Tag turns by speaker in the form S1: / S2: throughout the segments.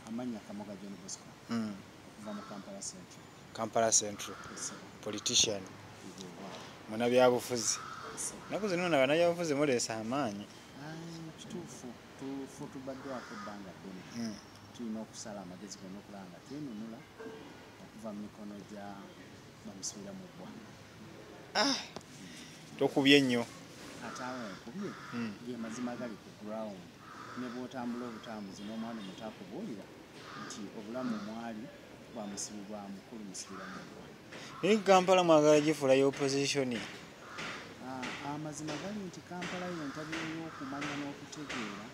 S1: amanya kamoga john bosco mm. okuva mu kampala central kampala central
S2: politician
S1: muna byabufuzi
S2: naku zino na bana byabufuzi muleesa amaanyi kituufu
S1: tufu tubaddwako ebbanga ddene mm. tulina okusala amagezi gona okulaba nga twenunula okuva mu mikono gya bamusubira mu ggwa ah!
S2: tokubye nnyo ate awo
S1: nkubye mm. ge mazima gali ku ground ne bw'otambula obutambuzi n'omwana omuto akubuulira nti obulamu mwali bwa musibi bwa mukulu musibira mugwa naye kampala
S2: mwagala gifuula ya opozisioni ah, amazima
S1: gali nti kampala yentabiro y'okumanya n'okutegeera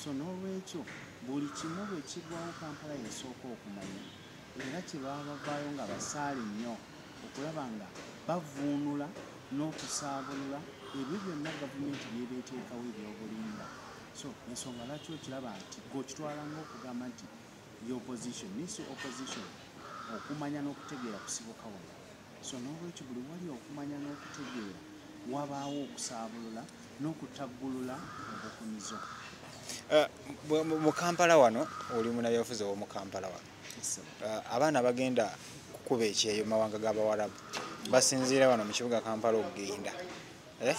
S1: so n'olwekyo buli kimu bwe kigwawo kampala yesooka okumanya era kye baba bavaayo nga basaale nnyo okulaba nga bavuunula n'okusaabulula ebyo byonna gavumenti byeba eteekawo ebyobulimba so ensonga lwaki okiraba nti gokitwala ngaokugamba nti ye opposition naye si opposition okumanya n'okutegeera kusibuka wano so n'olwekyo buli wali okumanya n'okutegeera wabaawo okusaabulula n'okutaggulula obukumizo eh, mu kampala wano oli munabyabufuzi owomu kampala wano uh, abaana bagenda kukuba ekyeyo mu mawanga g'abawarabu basinziira wano mu kibuga kampala okugenda eh?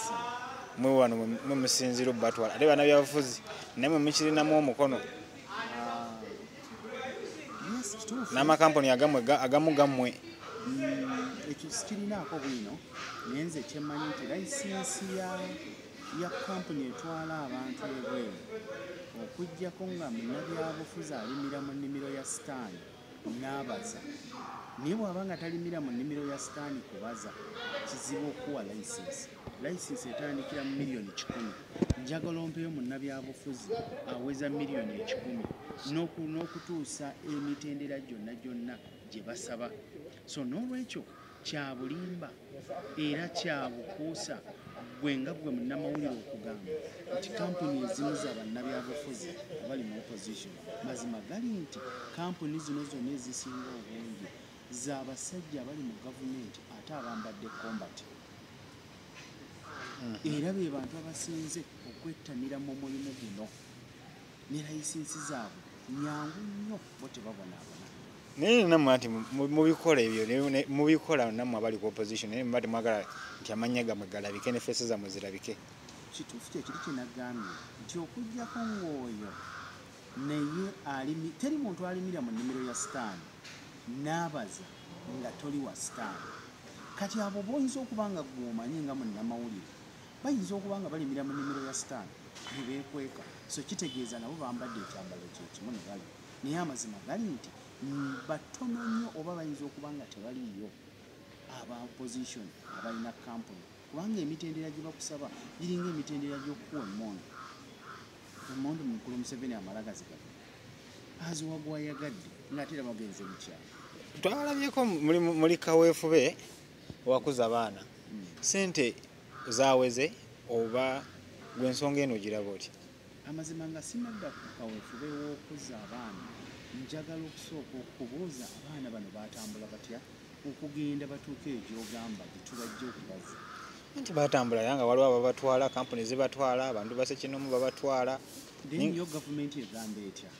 S1: mwe wano mwe musinziira obubatwala ate bana byabufuzi naye mwe mukirinamu omukono n'amakampuni agamwe agamu gammwe mm, ekyo sikirinaako bwino naye nze kyemmanyi nti layisinsi ya ya kampuni etwala abantu ebweru okujjako nga munnabyabufuzi alimira mu nnimiro ya sitaani n'abaza naye bw'aba nga talimira mu nnimiro ya sitaani kubaza kizibu okuwa layisinsi layisinsi etandikira mu miliyoni kikumi njagala ompeyo munnabyabufuzi aweza miliyoni ekikumi n'okutuusa emitendera gyonna gyonna gye basaba so n'olwekyo kyabulimba era kyabukuusa gwe nga gwe munnamawulire okugamba nti kampuni ezimu za bannabyabufuzi abali mu opposition mazima gali nti kampuni zino zonna ezisinga obungi za basajja abali mu gavumenti ate abambadde kombati mhm. era be bantu abasinze okwettanira mu mulimu guno ne layisinsi zaabwe nyangu nnyo bo tebabonaabona naye namwe
S2: ati mubikola ebyo mubikola namwe abali ku opposition naye muba temwagala nti amannya gamwe galabike ne fesi zamwe zirabike kituufu kyekiri
S1: kyenagambye nti okujjako ng'oyo naye alimi teri muntu alimira mu nnimiro ya sitaani naabaza nga toli wa sitaani kati abo boyinza okuba nga gweomanyi nga munnamawulire bayinza okuba nga balimira mu nnimiro ya sitaani nebeekweka so kitegeeza nabo bambadde ekyambalo kyekimu ne balima naye amazima gali nti batono nnyo oba bayinza okuba nga tebaliiyo aba opposition abalina kampuni kubanga emitendera gye bakusaba giringa emitendera gy'okukuwa emmondo emmondo mukulu museveni amalagazi gaga aziwa gwayagadde ngaate era bagenze mukyalo twalabyeko
S2: muli kaweefube owakuza abaana hmm. sente zaweze oba gwensonga eno giraba otya Amazima nga
S1: sinadda ku kawefube w'okuzza abaana, njagala okusooka okubuuza abaana bano baatambula batya okugenda batuuka egyogamba gyetubajja okubazza? Nti baatambula
S2: era nga waliwo ababatwala, kampuni zibatwala, abantu basekinomu babatwala. Then yo
S1: gavumenti egamba etya?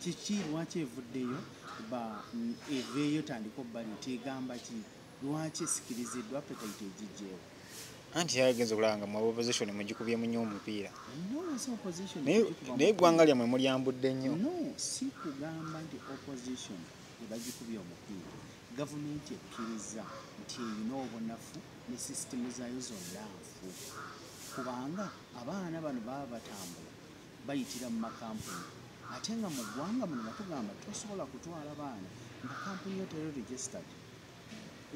S1: Kiki lwaki evuddeyo ba eveeyo tandika obbali nti egamba ki? lwaki esikiriziddwa apetite egijjeewo anti
S2: yagenze okulanga mu opposition mugikubye munyo omupiira naye
S1: eggwanga lyammwe
S2: mulyambudde nnyo no si
S1: kugamba nti opposition ebagikubye omupiira gavumenti ekkiriza nti erina obunafu ne sisitemu zaayo zonna nfu kubanga abaana bano baba batambula bayitira mu makampuni ate nga mu ggwanga muno batugamba tosobola kutwala baana nga kampuni yo teri registered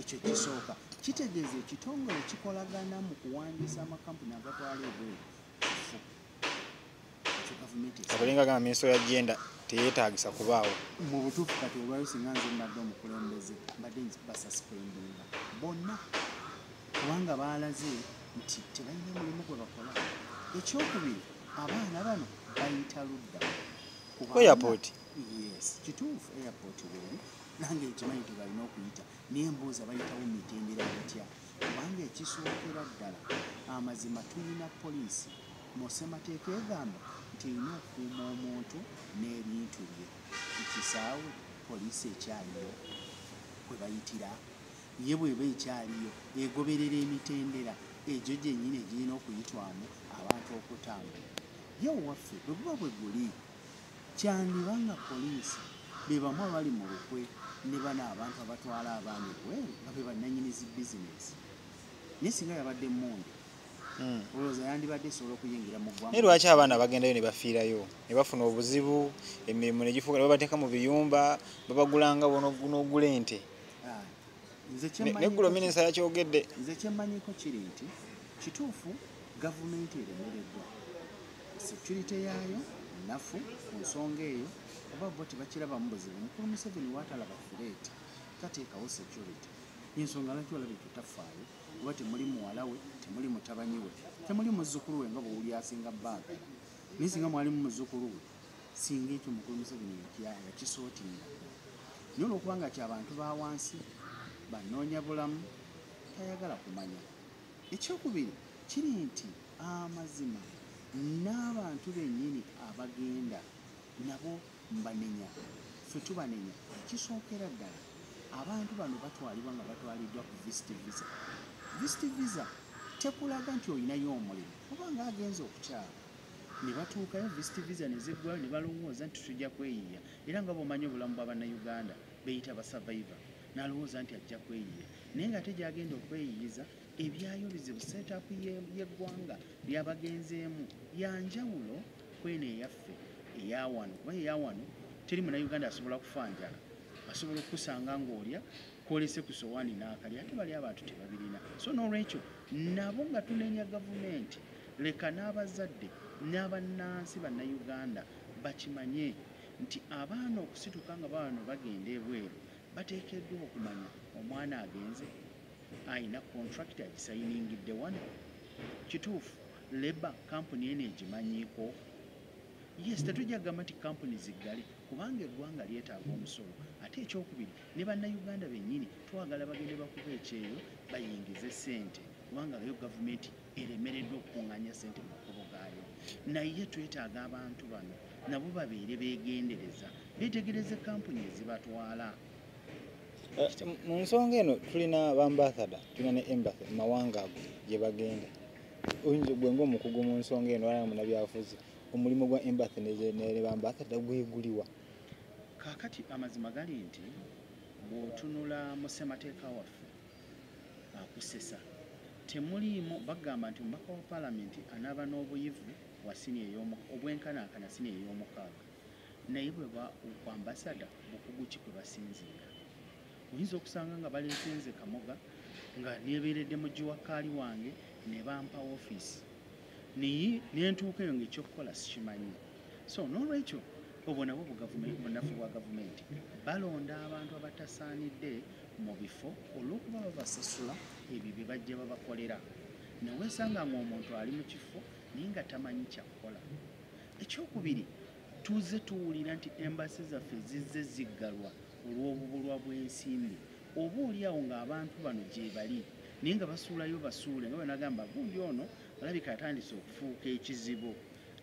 S1: ekyo kisooka kitegeeza ekitongole kikolagana mu kuwandiisa amakampuni agatwala ebweru
S2: abalinga gamba minisito ya jenda teyetagisa kubaawo mu butuufu kati
S1: olwayo singa nze mbadde omukulembeze mbadde basasipendinga bonna kubanga baalaze nti tebalina mulimu gwe bakola ekyokubiri abaana bano bayita ludda ku
S2: airport yes
S1: kituufu airport weri nange nkimanyi tebalina okuyita naye mbuuza bayitawo mitendera batya kubanga ekisookera ddala amazima tulina poliisi mu ssemateeka egamba nti erina okukuuma omuntu n'ebintu bye ekisaawe poliisi ekyaliyo kwe bayitira ye bweba ekyaliyo egoberera emitendera egyo gyennyini egirina okuyitwamu abantu okutambula ye owaffe bwe buba bwe guli Kyandiba nga poliisi be bamu abali mu lukwe ne bano abantu abatwala abaana ebweru nga be bannanyini zi bizinensi naye singa yabadde mmundu hmm. olowooza yandibadde esobola okuyingira mu ggwanga naye lwaki abaana bagendayo
S2: ne bafiirayo ne bafuna obuzibu emirimu ne gifuuka ne babateeka mu biyumba babagulanga n'ogula ente ah, neggulo minisita yakyogedde nze kyemmanyiko
S1: kiri nti kituufu gavumenti eremereddwa security yaayo nnafu ku nsonga eyo oba bo tebakirabamu buzibu mukulu museveni waatalaba fireeti tateekawo security yensonga lwaki olaba ekyo tafaayo kuba temuli muwala we temuli mutabanyi we temuli muzzukulu we nga bwewuli asinga baagala naye singa mwalimu muzzukulu we singa ekyo mukulu museveni yakisootinga naye olwokubanga kyabantu ba wansi banoonya bulamu tayagala kumanya ekyokubiri kiri nti amazima n'abantu bennyini abagenda nabo mbanenya ffe tubanenya ekisookera ddala abantu bano batwalibwa nga batwaliddwa ku vist visa vist visa tekulaga nti olinayo omulimu oba nga agenza okukyala ne batuukayo vist visa ne ziggwayo ne balowooza nti tujja kweyiiya era nga bwomanyi obulamu bwa bannayuganda beyita basavaiva n'alowooza nti ajja kweyiiya naye nga ate gyagenda okweyiiyiza ebyayo bizibu setup yeggwanga lyabagenzeemu yanjawulo kweno eyaffe eyawano kuba eyawano teri muna uganda asobola kufa njala asobola okukusanga ngaolya kwolese ku sowani nakali ate bali abantu tebabirina so nolwekyo nabo nga tunenya gavumenti leka n'abazadde n'abannansi bannayuganda bakimanye nti abaana okusituka nga bawano bagenda ebweru bateekeddwa okumanya omwana agenze alina contract agisayiningidde wano kituufu leba kampuni eno egimanyiiko yes tetujja kugamba nti kampuni ziggale kubanga eggwanga lyetaaga omusolo ate ekyokubiri ne bannayuganda bennyini twagala bagende bakuba ekyeyo bayingize sente kubanga yo gavumenti eremereddwa okukunganya sente mu makubo gaayo naye twetaaga abantu bano nabo babeere beegendereza beetegereze kampuni ezibatwala
S2: eh, mu nsonga eno tulina bambathada tulina ne embathy mu mawanga ago gye bagenda oyinza gwe ngaomukugu mu nsonga eno alaa munabyafuzi omulimu gwa embathy ne bambathada gweguliwa kakati
S1: amazima gali nti bwotunula mu ssemateeka waffe akusesa temuliimu bagamba nti omubaka wa palamenti anaaba n'obuyivu wa sini obwenkanankana sini ey'omukaaga naye bweba ku ambasada bukugu ki kwe basinziira oyinza okusanga nga baleetenze kamoga nga nebeeredde mu giwakkaali wange ne bampa ofiisi naye nentuuka eyo ngaekyokukola sikimanyi so n'olwekyo obwo nabwo bunafu bwa gavumenti balonda abantu abatasaanidde mu bifo olw'okuba babasasula ebyo bye bajja babakolera newesanga ngaomuntu ali mu kifo naye nga tamanyi kyakukola ekyokubiri tuze tuwulira nti embasi zaffe zizze ziggalwa olw'obubulwa bw'ensimbi oba oli awo ng'abantu bano gyebali naye nga basuulayo basuule nga banagamba gundi ono alabika atandise okufuuka ekizibu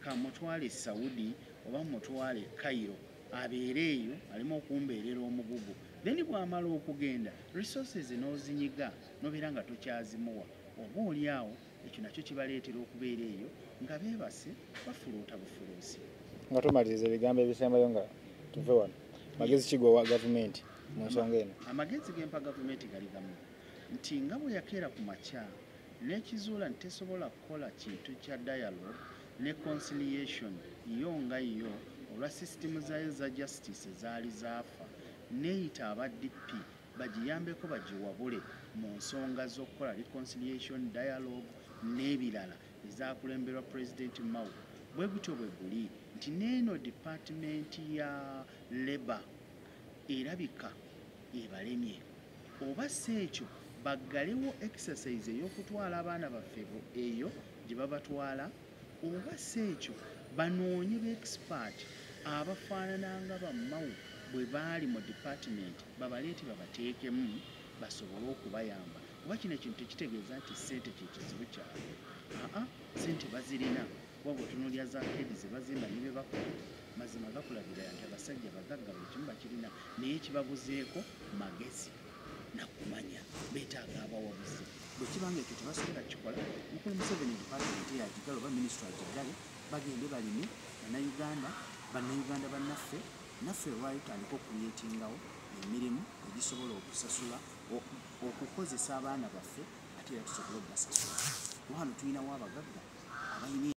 S1: kamutwale e saudi oba mutwale e cairo abeere eyo aleme okumbeerera omugugu then bwamala okugenda resources n'ozinyiga nobeera nga tokyazimuwa oba oli awo ekyo nakyo kibaleetera okubeera eyo nga beebase bafuluuta bufuluusi nga tumaliriza
S2: ebigambo ebisembayo nga tuve wano magezi kigowa gavumenti mu nsonga eno amagezi gempa gavumenti
S1: gali gamu nti nga bwe yakeera ku makya n'ekizuula nti tesobola kukola kintu kya dialogue ne conciliation yo nga yo olwa sisitimu zayo za justice ezaali zaafa neeyita aba dp bagiyambeko bagiwabule mu nsonga z'okukola reconciliation dialogue n'ebirala ezakulemberwa pulezidenti mao bwe gutyo bwe guli nti neeno dipatimenti ya labour erabika ebalemye oba si ekyo baggalewo exercise ey'okutwala abaana baffe eyo gye babatwala oba si ekyo banoonye beekipaati abafaanana nga bammawo bwe baali mu dipaatimenti babaleete babateekemu basobole okubayamba kuba kino ekintu tekitegeeza nti ssente kye kizibu kyabwe aa ssente bazirina kuba bwetunulya za kedi ze bazimba ne bye bakola mazima gakulabira nti abasajja bagagga buli kimu bakirina naye kibabuzeeko magezi nakumanya betaaga abawabuzi bwekiba nga ekyo tebasobola kikola mukulu museveni department yagigala oba minisitry agigale bagende balime banauganda banauganda banaffe naffe lwayo tandika okuyetingawo emirimu egisobola okusasula okukozesa abaana baffe ate era tusobole okubasasula wano tulinawo abagagga abalina